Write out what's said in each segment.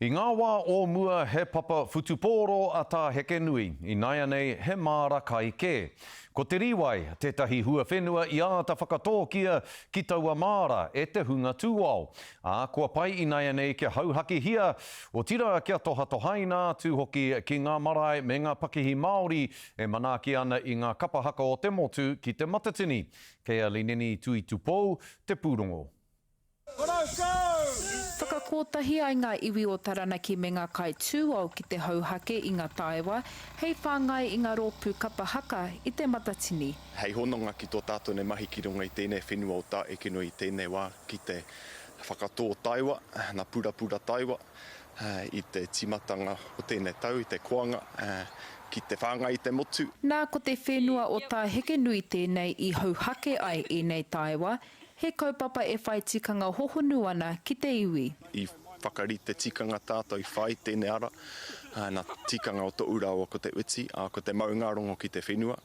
I ngā wā o mua he papa whutupōro a Tā Hekenui, ināianei he māra kai kē. Ko te rīwai tētahi huawhenua i āta whakatōkia ki taua māra e te hunga tūao, ā, kua pai ināianei kia hauhakihia, otirā kia tohatohaina atu hoki ki ngā marae me ngā pakihi Māori e manaaki ana i ngā kapa haka o te motu ki te matatini, kei a Lineni Tuitupou te pūrongo. Whakakōtahi ai ngā iwi o Taranaki me ngā kai tūao ki te hauhake i ngā taewa hei whāngai i ngā rōpū kapa haka i te Matatini. Hei hononga ki tō tātou nei mahi ki runga i tēnei whenua o Tā Ekenui i tēnei wā ki te whakatō taewa, na purapura taewa, i te tīmatanga o tēnei tau i te koanga ki te whāngai i te motu. Nā, ko te whenua o Tā Hekenui tēnei i hauhake ai ēnei taewa He kaupapa e whai tikanga hohonu ana ki te iwi. I whakarite tikanga tātou i whai tēnei ara, nā te tikanga o Toʻu rāua ko Te Uti, ā, ko te maungārongo ki te whenua,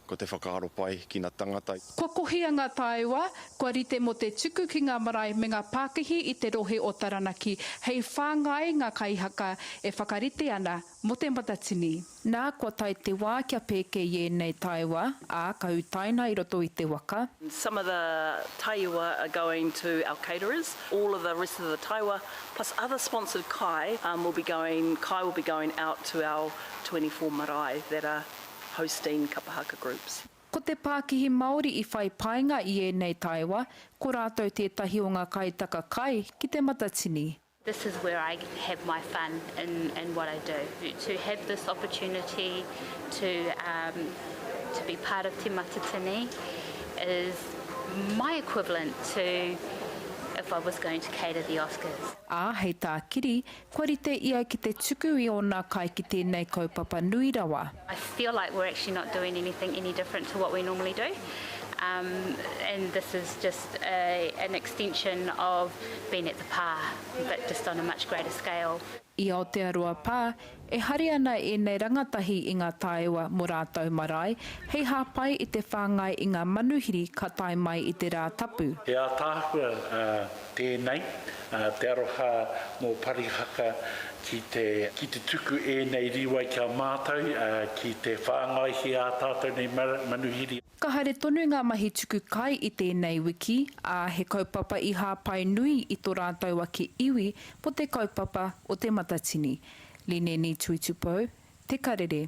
ko te whakaaro pai ki ngā tangata. Kua kohia ngā taewa, kua rite mō te tuku ki ngā marae me ngā pākihi i te rohe o Taranaki hei whāngai ngā kaihaka e whakarite ana mō te matatini. Nā, kua tae te wā kia pēke i ēnei taewa, ā, ka utaina i roto i te waka. Some of the taewa are going to our caterers, all of the rest of the taewa plus other sponsored kai will be going, kai will be going out to our twenty four marae that are hosting Kapa Haka groups. Ko te pākihi Māori i whai painga i ēnei taewa, ko rātou tētahi o ngā kaitaka kai ki Te Matatini. This is where I have my fun in in what I do. To have this opportunity to um to be part of Te Matatini is my equivalent to if I was going to cater the Oscars. Ā, hei tā Kiri, kua rite ia ki te tuku i ōna kai ki tēnei kaupapa nui rawa. I feel like we're actually not doing anything any different to what we normally do um and this is just a, an extension of being at the pa, but just on a much greater scale. I Aotearoa pā, e hari ana ēnei rangatahi i ngā taewa mō rātou marae, hei hāpai i te whāngai i ngā manuhiri ka tae mai i te rā tapu. He ātaahua tēnei, te aroha mō Parihaka ki te tuku ēnei rīwai ki a mātou ki te whāngaihia ā tātou nei manuhiri. Ka haere tonu ngā mahi tuku kai i tēnei wiki, ā, he kaupapa i hāpai nui i tō rātou ake iwi mō te kaupapa o Te Matatini, Lineni Tuitupou, Te Karere.